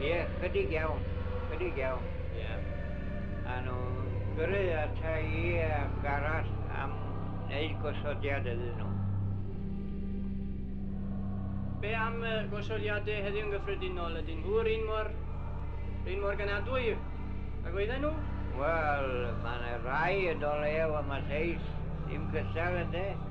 Ie, chydig iawn, chydig iawn. Ie. A nhw gyrru ata i am garall am wneud gosodiad iddyn nhw. Be am y gosodiadau heddiw yn gyffredinol? Ydyn nhw yr un mor, yr un mor ganadwy ag oedden nhw? Wel, mae yna rai yn o lew am y lleill, dim cystal ynde?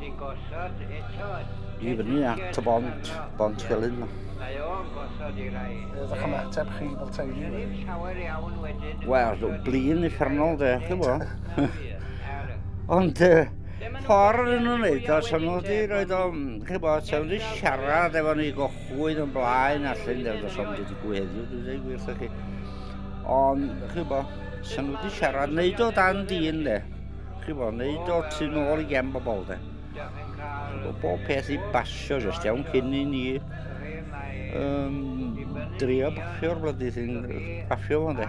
Ti'n gosod eto. I fyny at y bont, bont Felin. Mae o'n gosod i rai. Beth o'ch ymateb chi fel teulu? Dwi'n ddim llawer iawn wedyn. Wel, blin uffernol de, chi bo. Ond, ffordd yn nhw'n neud o, sy'n nhw wedi rhoi o, chi bo, sy'n nhw wedi siarad efo ni gochwyd yn blaen allan, neu os o'n wedi digwydd heddiw, dwi'n dweud gwir chi. Ond, chi bo, sy'n nhw wedi siarad, neud o dan dyn de. Chibod, wneud o tu nôl i gem bobl, de. Chibod, bob peth i basio, jyst iawn cyn i ni um, drio baffio'r blydi sy'n baffio fo, de.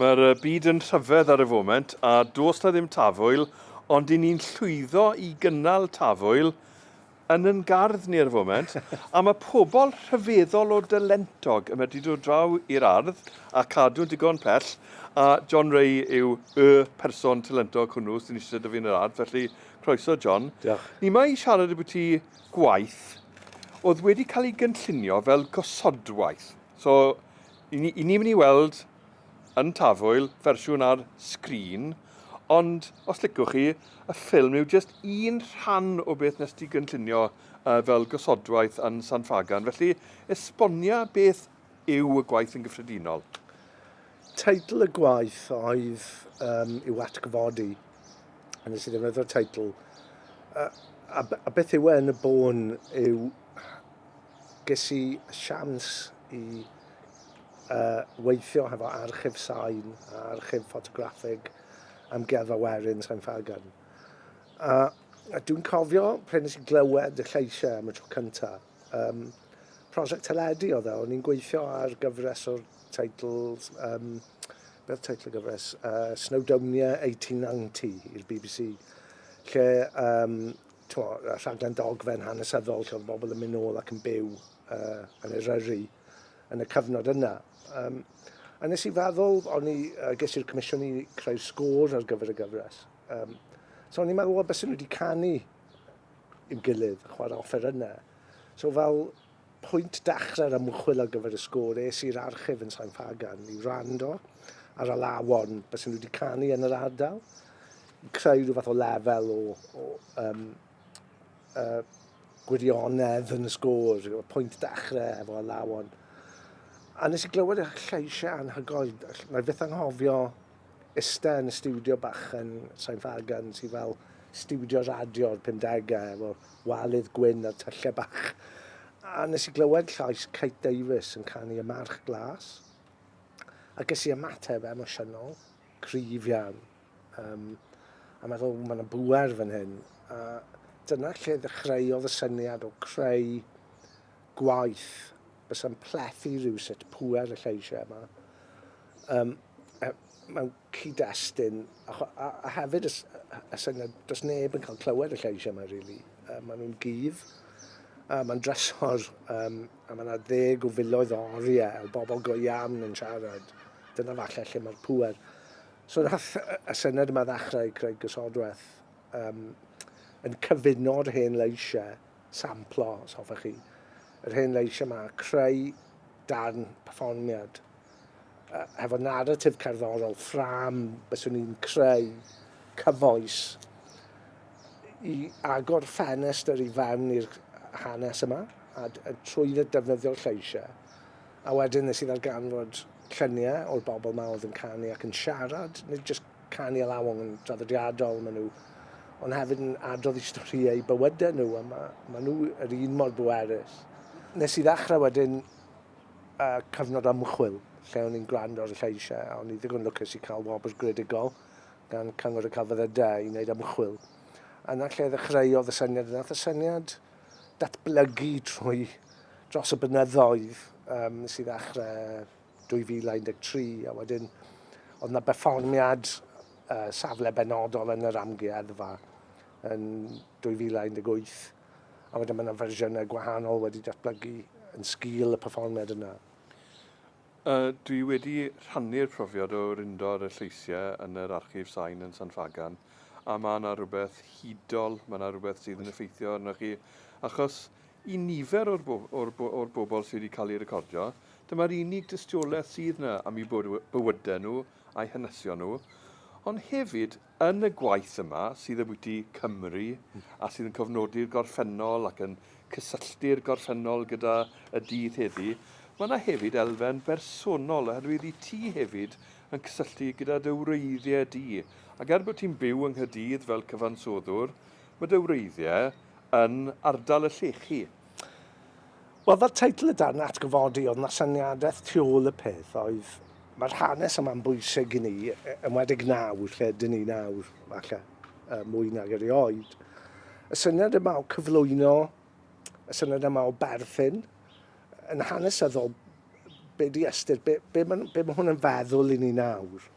Mae'r byd yn rhyfedd ar y foment a does na ddim tafwyl ond i ni'n llwyddo i gynnal tafwyl yn yn gardd ni ar y foment a mae pobl rhyfeddol o dalentog yn medru dod draw i'r ardd a cadw'n digon pell a John Ray yw y person talentog hwnnw sy'n eisiau dyfu yn yr ardd felly croeso John. Diolch. Ni mae i siarad y bwyty gwaith oedd wedi cael ei gynllunio fel gosodwaith so Ni'n mynd i weld yn Tafwyl fersiwn ar sgrin, ond os licwch chi, y ffilm yw jyst un rhan o beth nes ti gynllunio fel gosodwaith yn San Ffagan, felly esbonia beth yw y gwaith yn gyffredinol? Teitl y gwaith oedd um, i'w atgyfodi, a nes i ddefnyddio'r teitl, a, a, a beth yw e yn y bôn yw Ges i siawns i uh, weithio hefo archif sain a archif ffotograffig Amgueddfa Werin Sain Ffagan. A, a dwi'n cofio pryd nes i glywed y lleisiau am y tro cyntaf. Um, prosiect teledu oedd e, o'n i'n gweithio ar gyfres o'r teitls, um, beth teitl y gyfres, uh, Snowdonia 1890 i'r BBC, lle um, Twa, rhaglen dogfen hanesyddol lle oedd bobl yn mynd nôl ac yn byw uh, yn Eryri yn y cyfnod yna. Um, a nes i feddwl, o'n i, uh, ges i'r comisiwn i creu'r sgôr ar gyfer y gyfres. Um, so o'n i'n meddwl, o, bys nhw wedi canu i'm gilydd, chwarae offer yna. So fel Pwynt dechrau'r ymchwil ar gyfer y sgôr es i'r archif yn Sain Ffagan i wrando ar alawon beth sy'n wedi canu yn yr ardal i creu rhyw fath o lefel o, o um, uh, gwirionedd yn y sgôr, y pwynt dechrau efo alawon. A nes i glywed y lleisiau anhygoel, na i byth anghofio ista yn y stiwdio bach yn Sain Ffagan sy fel stiwdio radio o'r pumdegau efo walydd gwyn a'r tyllau bach. A nes i glywed llais Kate Davies yn canu Y March Glas a ges i ymateb emosiynol, cryf iawn. Um, a meddwl, mae yna bwer fan hyn. A dyna lle ddechreuodd y syniad o creu gwaith Bysa'n plethu rywsut pŵer y lleisiau yma. Um, mewn cyd-destun, a, a, a hefyd y, y syniad, does neb yn cael clywed y lleisiau yma, rili. Really. Uh, maen nhw'n gyf, uh, mae'n drysor, um, a mae yna ddeg o filoedd o oriau o bobl go iawn yn siarad. Dyna falle lle mae'r pŵer. So nath y syniad yma ddechrau Craig Gysodwaith um, yn cyfuno'r hen leisiau samplo, os hoffech chi, yr hen leisiau yma, creu darn perfformiad. Uh, hefo narratif cerddorol, ffram, byswn i'n creu cyfoes i agor ffenestr i fewn i'r hanes yma, a, a trwy ddefnyddio'r lleisiau. A wedyn nes i ddarganfod lluniau o'r bobl yma oedd yn canu ac yn siarad, nid jyst canu a lawong yn draddodiadol maen nhw, ond hefyd yn adrodd i storïau bywydau nhw, a mae, maen nhw yr un mor bwerus. Nes i ddechrau wedyn uh, cyfnod ymchwil lle o'n i'n gwrando ar y lleisiau, a o'n i ddigon lwcus i cael wobr gredigol gan Cyngor y Celfyddydau i wneud ymchwil. Yna lle ddechreuodd y syniad, yna y syniad datblygu trwy dros y bynyddoedd um, nes i ddechrau 2013 a wedyn oedd yna berfformiad uh, safle benodol yn yr amgueddfa yn 2018 a wedyn mae yna fersiynau gwahanol wedi datblygu yn sgil y perfformiad yna. Uh, dwi wedi rhannu'r profiad o rindor y lleisiau yn yr archif sain yn San Fagan a mae yna rhywbeth hudol, mae yna rhywbeth sydd yn effeithio arnoch chi achos I nifer o'r bobl sydd wedi cael eu recordio, dyma'r unig dystiolaeth sydd yna am eu bywydau nhw a'u hanesion nhw, ond hefyd yn y gwaith yma sydd ambiti Cymru a sydd yn cofnodi'r gorffennol ac yn cysylltu'r gorffennol gyda y dydd heddi', mae yna hefyd elfen bersonol oherwydd wyt ti hefyd yn cysylltu gyda dy wreiddiau di ac er bod ti'n byw yng Nghaerdydd fel cyfansoddwr, Mae dy wreiddiau yn ardal y llechi. Wel, fel teitl y darn atgyfodi, oedd 'na syniadaeth tu ôl y peth, oedd mae'r hanes yma'n bwysig i ni, enwedig nawr, lle ydyn ni nawr, falle, mwy nag erioed. Y syniad yma o cyflwyno, y syniad yma o berthyn, yn hanesyddol, be di ystyr, be, be, be mae hwn yn feddwl i ni nawr?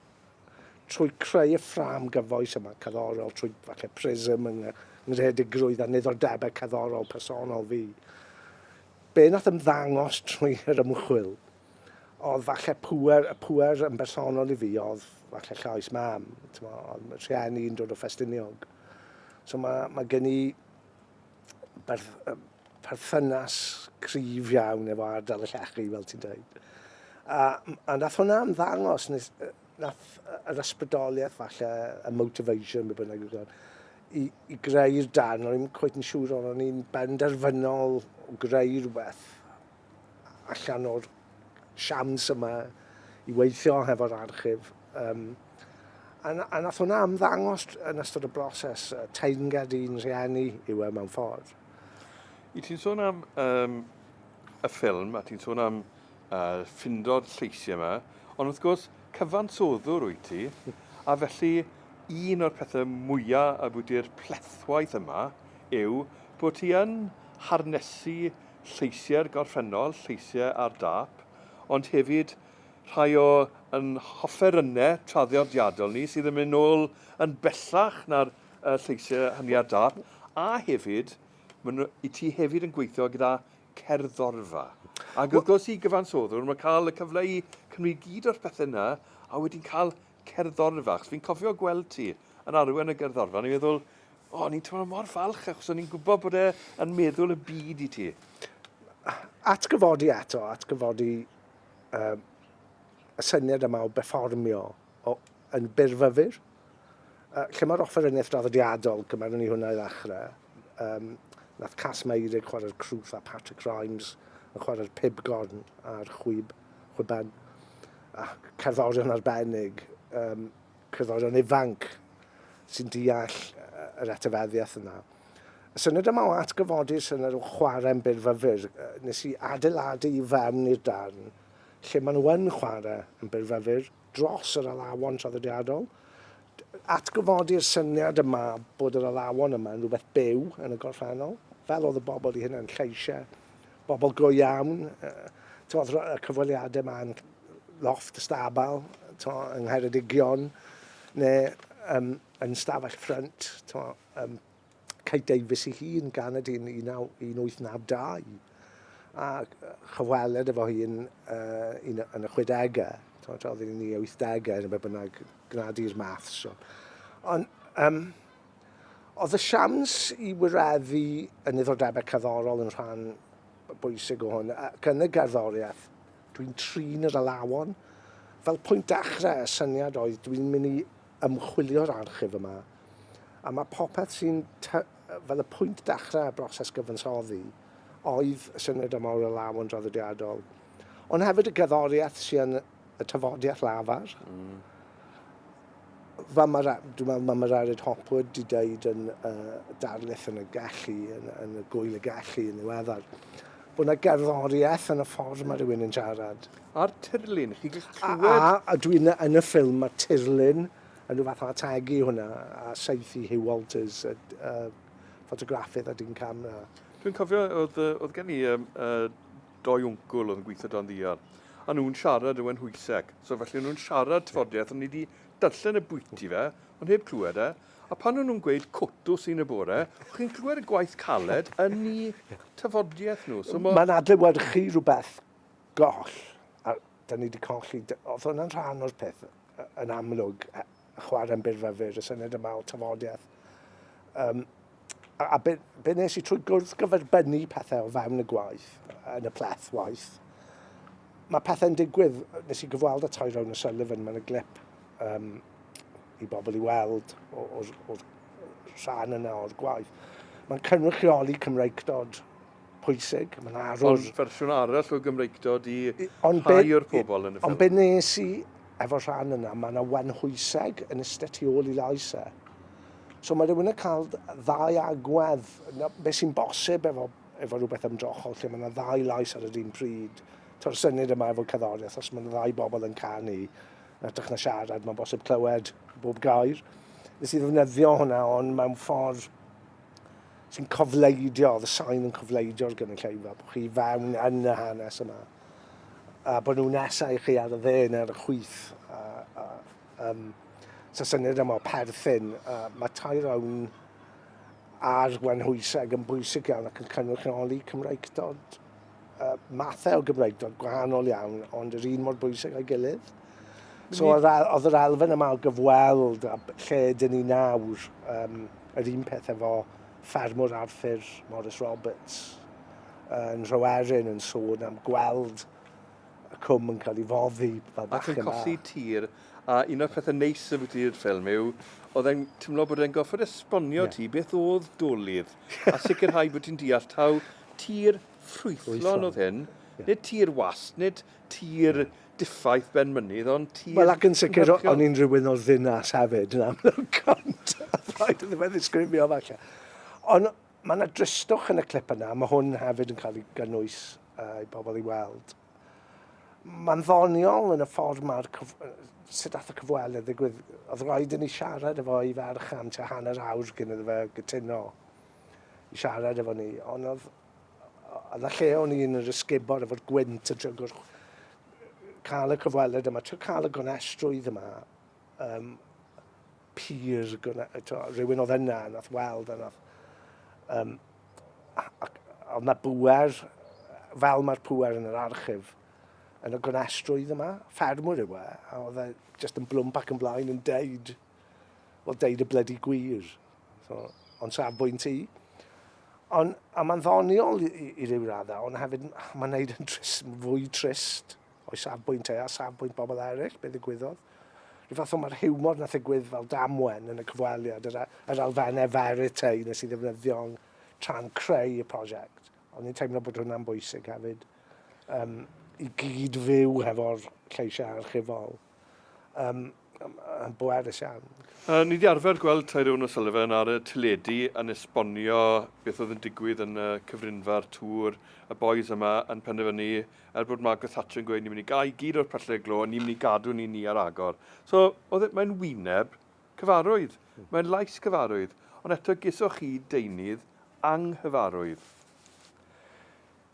Trwy creu y ffrâm gyfoes yma, cerddorol, trwy falle prism yng ngreadigrwydd a niddordebau cerddorol personol fi, be nath ymddangos trwy yr ymchwil oedd falle pŵer, y pŵer yn bersonol i fi oedd falle llais mam, oedd rhieni yn dod o Ffestiniog. So mae, mae gen i perthynas cryf iawn efo ardal y llechi, fel ti'n dweud. A, a nath hwnna ymddangos, nath yr ysbrydoliaeth falle, y motivation, be bynnag yw'r gair, i, i greu'r darn, o'n i'n cweith yn siŵr o'n i'n benderfynol o greu rhywbeth allan o'r siams yma i weithio hefo'r archif. Um, a, a nath hwnna ymddangos yn ystod y broses, uh, teyrnged i'n rhieni yw e mewn ffordd. I ti'n sôn am um, y ffilm, a ti'n sôn am uh, ffindo'r lleisiau yma, ond wrth gwrs, cyfansoddwr wyt ti, a felly un o'r pethau mwyaf a bwydi'r plethwaith yma yw bod ti yn harnesu lleisiau'r gorffennol, lleisiau ar dâp, ond hefyd rhai o yn hofferynnau traddodiadol ni sydd yn mynd ôl yn bellach na'r uh, lleisiau hynny ar dâp, a hefyd, mae'n i ti hefyd yn gweithio gyda cerddorfa. Ac wrth gwrs i gyfansoddwr, mae'n cael y cyfle i cymryd gyd o'r pethau yna, a wedyn cael cerddorfa, achos fi'n cofio gweld ti yn arwen y gerddorfa, ni'n meddwl, o, oh, ni'n teimlo mor falch, achos o'n i'n gwybod bod e'n meddwl y byd i ti. Atgyfodi eto, atgyfodi um, y syniad yma o berfformio o, yn byrfyfyr. Uh, lle mae'r offeryniaeth draddodiadol, gymaru ni hwnna i ddechrau, um, nath Cas Meirig chwarae'r crwth a Patrick Rhymes yn chwarae'r pibgorn a'r chwib, chwiban. a cerddorion arbennig, um, cerddorion ifanc sy'n deall yr etifeddiaeth yna. Y syniad yma o atgyfodi syniad o chwarae'n byrfyfyr, nes i adeiladu i fewn i'r darn lle maen nhw yn chwarae yn byrfyfyr dros yr alawon traddodiadol. Atgyfodi'r syniad yma bod yr alawon yma yn rhywbeth byw yn y gorffennol, fel oedd y bobl i hynny'n lleisiau bobl go iawn. Tywod, y cyfweliadau yma yn loft y stabal, tywod, yng Ngheredigion, neu um, yn stafell ffrynt, tywod, um, Kate Davis i hun gan y dyn 1892. A chyfweled efo hi yn, uh, yn, yn y 60au, tywod, oedd yn ei 80au, yn y bynnag, gnad i'r math. So. Ond, um, Oedd y siawns i wireddu y niddordebau cerddorol yn rhan bwysig o hwn, ac yn y gerddoriaeth, dwi'n trin yr alawon. Fel pwynt dechrau, y syniad oedd dwi'n mynd i ymchwilio'r archif yma, a mae popeth sy'n fel y pwynt dechrau y broses gyfansoddi, oedd y syniad yma o'r alawon draddodiadol. Ond hefyd y gerddoriaeth sy'n y tafodiaith lafar. Mm. Fel mae, dwi'n meddwl, mae Mararid Hopwood di dweud yn uh, darlith yn y gallu, yn, yn y gwyl y gallu yn ddiweddar, bod yna gerddoriaeth yn y ffordd mae rhywun yn siarad. A'r tirlun, chi gallu clywed... A, a, a dwi'n yn y ffilm, mae tirlun yn rhyw fath o ategu hwnna, a seithi Hugh Walters, y, uh, ffotograffydd a dyn camera. Dwi'n cofio, oedd, oedd gen i um, uh, doi wncwl oedd yn gweithio dan ddial, a nhw'n siarad yw e'n Nhwyseg, so felly o'n nhw'n siarad tafodiaith, o'n i wedi darllen y bwyty fe, ond heb clywed e, a pan o'n nhw'n gweud cotws un y bore, o'ch chi'n clywed y gwaith caled yn i tafodiaith nhw. So ma... Mae'n adlewyrchu rhywbeth goll, a da ni wedi colli, oedd hwnna'n rhan o'r peth? yn amlwg chwarae yn byrfa fyr y syniad yma o tafodiaeth. Um, a, a be, be nes i trwy gwrdd gyferbynnu pethau o fewn y gwaith, yn y pleth waith, mae pethau'n digwydd, nes i gyfweld y tair Tyrone O'Sullivan, mae'n y glip um, i bobl i weld o'r rhan yna o'r gwaith. Mae'n cynrychioli Cymreicdod pwysig. Mae yna arwr... Ond fersiwn arall o Gymreictod i rhai o'r pobl yn y ffilm. Ond be wnes i efo'r rhan yna, mae yna wenhwyseg yn iste tu ôl i lais e. So mae rhywun yn cael ddau agwedd, beth sy'n bosib efo, efo rhywbeth ymdrochol lle mae yna ddau lais ar yr un pryd. To'r syniad yma efo cerddoriaeth, os mae yna ddau bobl yn canu, yn ytrach na siarad, mae'n bosib clywed bob gair. Nes i ddefnyddio hwnna, ond mewn ffordd sy'n cofleidio, oedd y sain yn cofleidio'r gynulleidfa, bod chi fewn yn y hanes yma. A bod nhw'n nesau chi ar y dde neu'r y chwyth. A, a, um, so syniad yma o perthyn, a mae tair awn ar wenhwyseg yn bwysig iawn ac yn cynrychioli Cymraeg dod. uh, mathau o Gymraeg dod gwahanol iawn, ond yr un mor bwysig a'i gilydd. So oedd yr elfen yma o gyfweld a lle dyn ni nawr, um, yr un peth efo ffermwr Arthur Morris Roberts yn Rhoerin yn sôn am gweld y cwm yn cael ei foddi fel bach yma. Ac yn colli tir A un o'r pethe neis ambwti'r ffilm yw, o'dd e'n timlo bod e'n gorffod esbonio ti beth o'dd dolydd a sicirhau bo' ti'n deall taw tir ffrwythlon o'dd hyn, nid tir wast, nid tir diffaith ben mynydd ond tir... Wel ac yn sicir o'n i'n rywun o'r ddinas hefyd yn amlwg ond rhaid iddo fe ddisgrifio falle. Ond ma' 'na dristwch yn y clip yna, ma' hwn hefyd yn cael ei gynnwys i pobl i weld. Mae'n ddoniol yn y ffordd mae'r cyf... sut ath y cyfweliad ddigwydd. Oedd rhaid i ni siarad efo i ferch am tua hanner awr cyn iddo fe gytuno i siarad efo ni. Ond oedd... oedd y lle o'n i'n yr ysgubor efo'r gwynt yn trio gwrch... cael y cyfweliad yma, trio cael y gonestrwydd yma. Um, pur gwna, to, rhywun oedd yna, nath weld a nath... Um, ac oedd na bwer, fel mae'r pwer yn yr archif, yn y gwenestrwydd yma, ffermwr yw e, a oedd e just yn blwmp ac yn blaen yn deud, wel, deud y blydi gwir. So, ond safbwynt i. Ond, a mae'n ddoniol i, i, i ryw raddau, ond hefyd mae'n neud yn trist, fwy trist. O'i safbwynt e, a safbwynt bobl eraill, be ddigwyddodd? Rhyw fath o mae'r hiwmor nath ddigwydd fel damwen yn y cyfweliad, yr, yr elfennau verite nes i ddefnyddio tra'n creu y prosiect. O'n i'n teimlo bod hwnna'n bwysig hefyd, um, i gyd fyw hefo'r lleisiau archifol. um, um, yn bwerus iawn. Uh, ni wedi arfer gweld Tyrone O'Sullivan ar y teledu yn esbonio beth oedd yn digwydd yn y cyfrinfa'r tŵr y boys yma yn penderfynu er bod Margaret Thatcher yn gweud ni'n mynd i gael gyd o'r pyllau glo, ni'n mynd i gadw ni ni ar agor. So, oedd e, mae'n wyneb cyfarwydd, hmm. mae'n lais cyfarwydd, ond eto gysoch chi deunydd anghyfarwydd.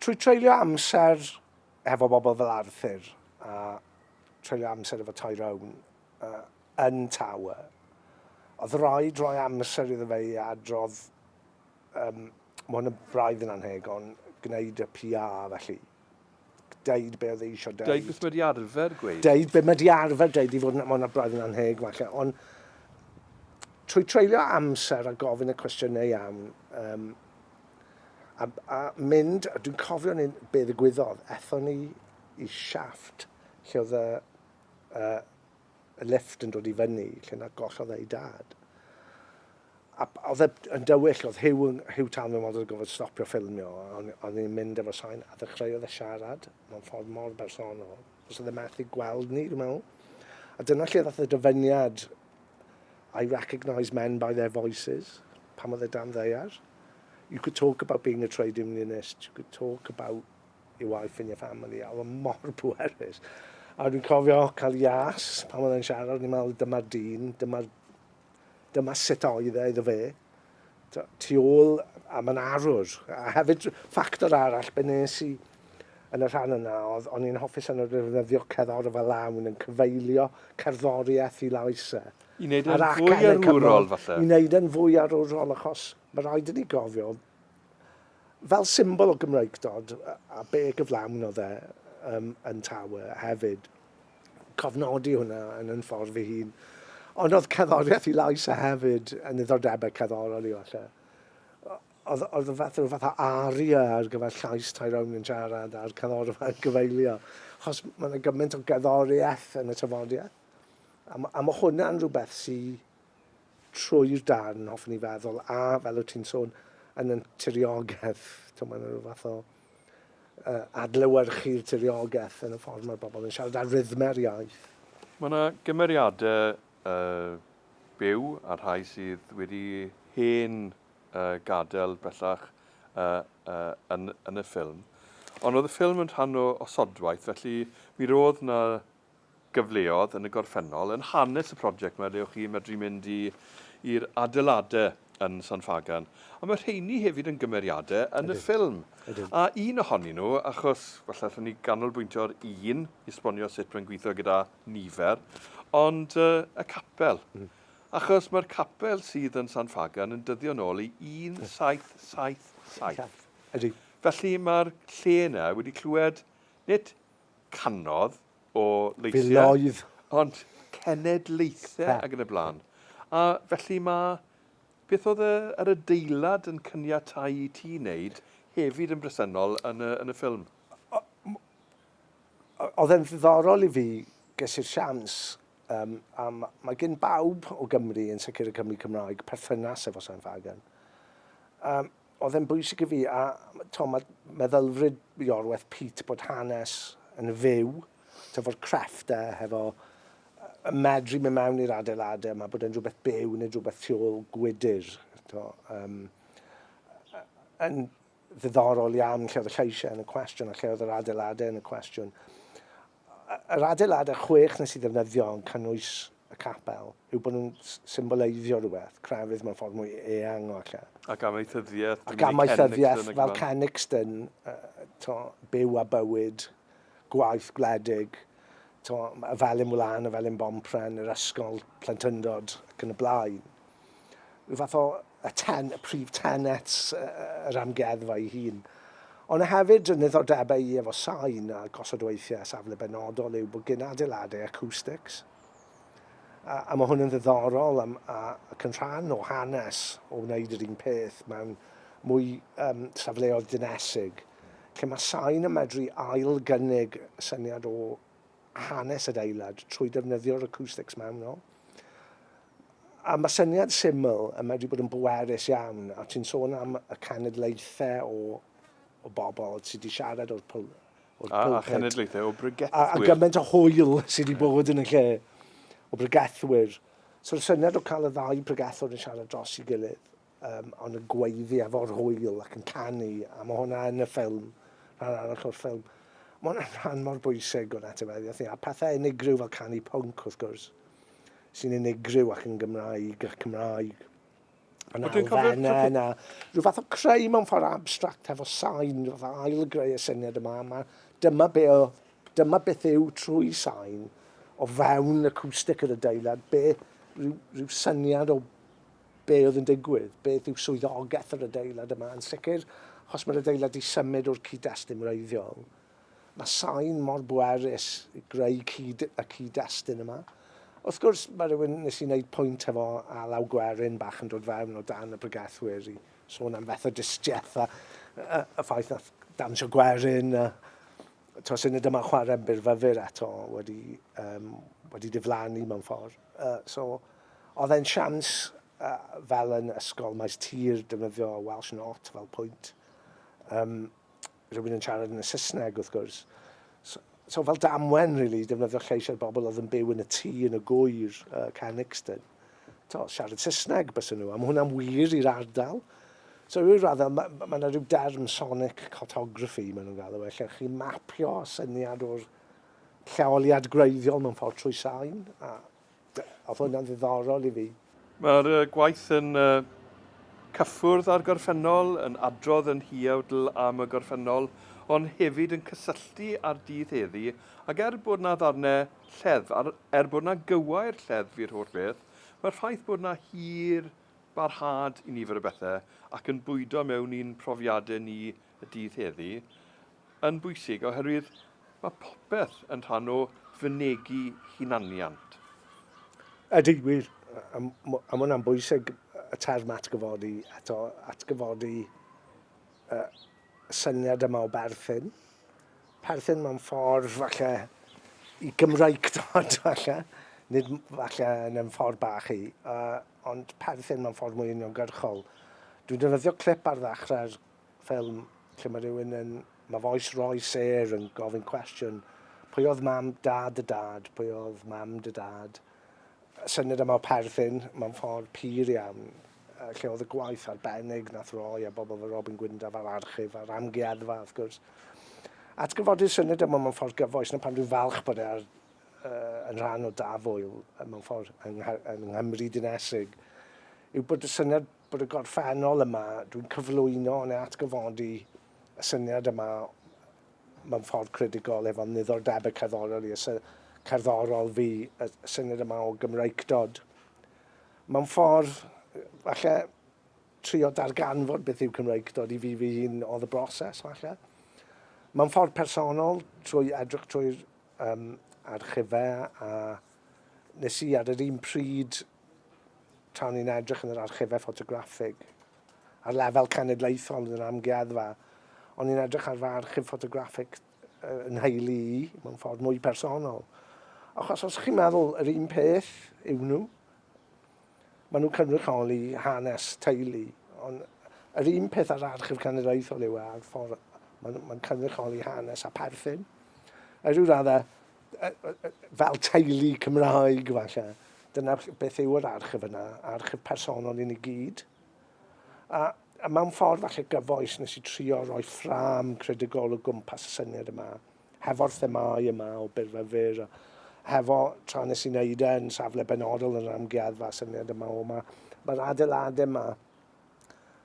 Trwy treulio amser efo bobl fel Arthur a treulio amser efo Tyrone uh, yn Tower. Oedd rhaid rhoi amser iddo fe i adrodd, um, mae hwn yn braidd yn anheg, ond gwneud y PR felly. Deud be oedd e eisiau deud. Deud beth mae di arfer gweud. Deud beth mae di arfer deud i fod yn, mae hwn yn braidd yn anheg falle, ond trwy treulio amser a gofyn y cwestiynau iawn, um, a, a mynd, dwi'n cofio ni'n be ddigwyddodd, ethon ni y siafft lle oedd y, y, y lifft yn dod i fyny, lle na gollodd ei dad. A oedd e yn dywyll, oedd Hugh, yn, Hugh Talman oedd yn gofod stopio ffilmio, ond oedd e'n mynd efo sain, a ddechreuodd e siarad mewn ffordd mor bersonol. Os oedd e methu gweld ni, dwi'n meddwl. A dyna lle ddoth y dyfyniad, I recognise men by their voices, pan oedd e dan ddeiar. You could talk about being a trade unionist, you could talk about your wife and your family, a oedd mor pwerus. A dwi'n cofio cael ias pan oedd e'n siarad, ni'n meddwl dyma dyn, dyma, dyma sut oedd e iddo fe. Tu ôl a mae'n arwr. A hefyd ffactor arall, be nes i yn y rhan yna, oedd o'n i'n hoffi sy'n defnyddio cerddor fel lawn yn cyfeilio cerddoriaeth i lais e. I wneud yn fwy arwrol, falle? I wneud yn fwy arwrol, achos mae rhaid i ni gofio, Fel symbol o Gymreigdod, a be gyflawn oedd e um, yn Tawe hefyd, cofnodi hwnna yn yn ffordd fy hun. Ond oedd cerddoriaeth i lais a hefyd yn ddiddordebau cerddorol i falle. Oedd, oedd y fath, fath o aria ar gyfer llais Tyrone yn siarad a'r cerddorfa yn gyfeilio. Chos mae yna gymaint o gerddoriaeth yn y tafodiaeth. A, a mae hwnna'n rhywbeth sy'n trwy'r darn, hoffwn i feddwl, a fel wyt ti'n sôn, yn y tiriogaeth, ti'n meddwl, rhyw fath o uh, adlewyrchu'r tiriogaeth yn y ffordd mae'r bobl yn siarad ar rythmau'r iaith. Mae yna gymeriadau uh, byw a rhai sydd wedi hen uh, gadael bellach uh, uh, yn, yn y ffilm. Ond oedd y ffilm yn rhan o osodwaith, felly mi roedd yna gyfleodd yn y gorffennol. Yn hanes y prosiect 'ma lle o'ch chi'n medru mynd i i'r adeilade yn San Ffagan. A ma' rheini hefyd yn gymeriade yn y ffilm. Ydyn. A un ohonyn nhw, achos falle allwn ni ganolbwyntio ar un i esbonio sut mae'n gweithio gyda nifer, ond yy y capel. Achos mae'r capel sydd yn San Ffagan yn dyddio nôl i 1777. Ydy. Felly mae'r lle 'na wedi clywed, nid canodd o leithiau. Filoedd. Ond cenedlaethau ac yn y blaen. A felly mae, beth oedd y, yr adeilad yn cyniatau i ti wneud hefyd yn bresennol yn y, yn y ffilm? oedd e'n ddiddorol i fi, ges i'r sians, um, a mae gen bawb o Gymru, yn sicr y Cymru Cymraeg, perthynas efo Sam Fagan. Um, oedd e'n bwysig i fi, a to, mae meddylfryd Iorwerth Pete bod hanes yn fyw, to, fo'r crefftau e, hefo medru mynd mewn i'r adeiladau yma, bod e'n rhywbeth byw neu rhywbeth tu ôl gwydr. To, um, yn ddiddorol iawn lle oedd y lleisiau yn y cwestiwn a lle oedd yr adeiladau yn y cwestiwn. Yr adeiladau chwech nes i ddefnyddio yn cynnwys y capel yw bod nhw'n symboleiddio rhywbeth, crefydd mewn ffordd mwy eang o ella. Ac amaethyddiaeth, ac amaethyddiaeth fel Kennicton, to, byw a bywyd, gwaith gwledig, to, y felin wlân, y felin bompren, yr ysgol, plentyndod, ac yn y blaen. rhyw fath o y ten, y prif tenet yr amgueddfa ei hun. Ond y hefyd yn ddiddordebau i efo sain a gosod weithiau safle benodol yw bod gyn adeiladau acoustics. A, a mae hwn yn ddiddorol am, a, ac yn rhan o hanes o wneud yr un peth mewn mwy um, safleoedd dinesig, lle mae sain yn medru ail gynnig syniad o hanes adeilad trwy defnyddio'r acoustics maen nhw. A mae syniad syml yn meddwl bod yn bwerus iawn, a ti'n sôn am y cenedlaethau o, o bobl sydd wedi siarad o'r pwl... O'r a, a cenedlaethau o bregethwyr. A, a gymaint o hwyl sydd wedi bod yn y lle o bregethwyr. So'r syniad o cael y ddau bregethwr yn siarad dros i gilydd, um, ond yn gweiddi efo'r hwyl ac yn canu, a mae hwnna yn y ffilm, rhan arall o'r ffilm. Mae hwnna'n rhan mor bwysig o'n etifeddiaeth ni, a pethau unigryw fel canu pwnc, wrth gwrs, sy'n unigryw ac yn Gymraeg, ac Cymraeg. Mae'n alfenna yna. Rhyw fath o creu mewn ffordd abstract efo sain, rhyw fath o ail greu y syniad yma. Mae, dyma, be o, dyma beth yw trwy sain o fewn acoustic yr adeilad, be, rhyw, rhyw syniad o be oedd yn digwydd, beth yw swyddogaeth yr adeilad yma, yn sicr, achos mae'r adeilad wedi symud o'r cyd-destun wreiddiol. Mae sain mor bwerus i greu cyd, y cyd-destun yma. Wrth gwrs, mae rhywun nes i wneud pwynt hefo a law gwerin bach yn dod fewn o dan y bregethwyr i sôn am fethodistiaeth a, a, a ffaith na dawnsio gwerin a to sy'n y dyma chwarae yn byrfyfyr eto wedi, um, wedi diflannu mewn ffordd. Uh, so, Oedd e'n siawns fel yn ysgol maes tir defnyddio Welsh not fel pwynt. Um, rhywun yn siarad yn y Saesneg wrth gwrs. So, so fel damwen, really, defnyddio lleis ar bobl oedd yn byw yn y tŷ yn y gwyr, uh, Canixton. To, siarad Saesneg bys nhw, a mae hwnna'n wir i'r ardal. So rhyw raddau, mae yna ma, ma rhyw derm sonic cartography, maen nhw'n galw e, lle chi mapio syniad o'r lleoliad gwreiddiol mewn ffordd trwy sain, a Oedd hwnna'n ddiddorol i fi. Mae'r gwaith yn cyffwrdd â'r gorffennol, yn adrodd yn huawdl am y gorffennol, ond hefyd yn cysylltu â'r dydd heddi, ac er bod 'na ddarnau lleddf, a'r er bod 'na gywair lleddf i'r holl beth, mae'r ffaith bod 'na hir barhad i nifer o bethau, ac yn bwydo mewn i'n profiadau ni y dydd heddi yn bwysig oherwydd mae popeth yn rhan o fynegi hunaniant. Ydy, wir, a mae hwnna'n bwysig, y term atgyfodi, eto, atgyfodi y syniad yma o berthyn. Perthyn mewn ffordd falle i Gymraeg dod falle, nid falle yn ymwneud ffordd bach i, uh, ond perthyn mewn ffordd mwy uniongyrchol. Dwi'n defnyddio clip ar ddechrau'r ffilm lle mae rhywun yn... mae voice Roy Sayre yn gofyn cwestiwn, pwy oedd mam, da dy dad, pwy oedd mam dy dad? Y syniad yma o perthyn mewn ffordd pur iawn, lle oedd y gwaith arbennig nath Roy a bobl fel Robin Gwyndaf a'r archif a'r amgueddfa wrth gwrs. Atgyfodi'r syniad yma mewn ffordd gyfoes, na pan dwi'n falch bod e ar, uh, yn rhan o Dafwyl mewn ffordd yng, yng Nghymru dinesig, yw bod y syniad bod y gorffennol yma, dwi'n cyflwyno neu atgyfodi y syniad yma mewn ffordd credigol efo niddordebau cerddorol i y sy- cerddorol fi, y syniad yma o Gymreicdod. Mewn ffordd, falle, trio darganfod beth yw Cymreicdod i fi fy hun oedd y broses, falle. Mewn ffordd personol, trwy edrych trwy'r um, archifau a Nes i ar yr un pryd, tra o'n i'n edrych yn yr archifau ffotograffig, ar lefel cenedlaethol yn yr amgueddfa, o'n i'n edrych ar fy archif ffotograffig yn nheulu i, mewn ffordd mwy personol. Achos os chi'n meddwl yr un peth yw nhw, maen nhw'n cynrychioli hanes teulu, ond yr un peth ar archif cenedlaethol yw e, a'r ffordd mae'n ma cynrychioli hanes a perthyn. Er yw raddau, fel teulu Cymraeg, falle. Dyna beth yw yr archif yna, archif personol i ni gyd. A, a mewn ffordd falle gyfoes nes i trio roi ffram credigol o gwmpas y syniad yma, hefo'r themau yma o byrfyfyr, hefo tra nes i wneud e yn safle benodol yn yr amgueddfa syniad yma o yma. Mae'r adeiladau yma,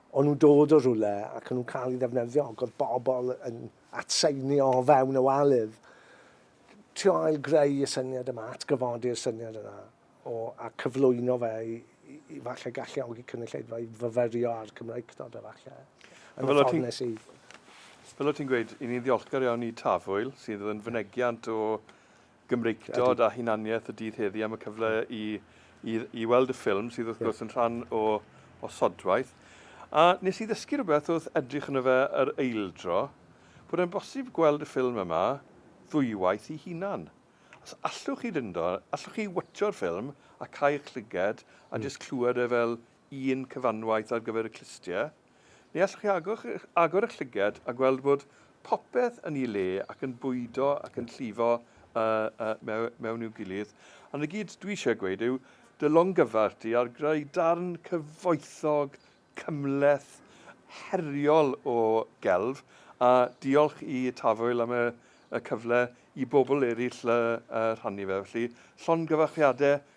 o'n nhw'n dod o rhywle ac o'n nhw'n cael ei ddefnyddio ac oedd bobl yn atseinio o fewn y waledd, trio ail-greu y syniad yma, atgyfodi'r syniad yna, o, a cyflwyno fe i, i, i falle galluogi cynulleidfa i fyfyrio ar Cymreictod, efallai, yn y ffordd nes i. Fel o ti'n gweud, i ni'n ddiolchgar iawn i Tafwyl, sydd yn fynegiant o Gymreictod a hunaniaeth y dydd heddi am y cyfle i, i, i weld y ffilm sydd wrth gwrs yn rhan o, o sodwaith. A nes i ddysgu rhywbeth wrth edrych yno fe yr eildro, bod e'n bosib gweld y ffilm yma ddwywaith i hunan. Os allwch chi fynd o, allwch chi watcho'r ffilm a cael eich llyged a mm. jyst clywed e fel un cyfanwaith ar gyfer y clustiau, Ni allwch chi agor eich llygad a gweld bod popeth yn ei le ac yn bwydo ac yn llifo mewn i'w gilydd, ond y gyd dwi eisiau gweud yw dy longyfarch di ar greu darn cyfoethog, cymhleth, heriol o gelf, a diolch i Tafwyl am y cyfle i bobl eraill rhannu fe. Felly, llongyfarchiadau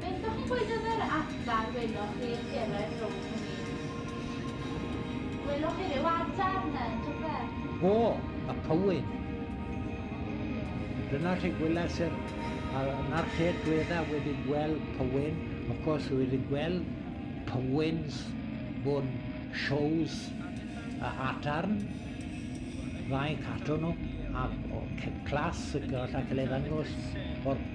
Beth dach chi'n gweud am yr adar welwch chi yn cyrraedd rownd y ffin? Welwch chi ryw adar ne rhywbeth? O! Y pywyn! Dyna lle gweles i'r... a 'na'r lle dwetha wedi gweld pywyn. Of course wi 'di gweld pywyns mewn shows y adarn, fainc ato nhw, a class y gallai cael ei ddangos o'r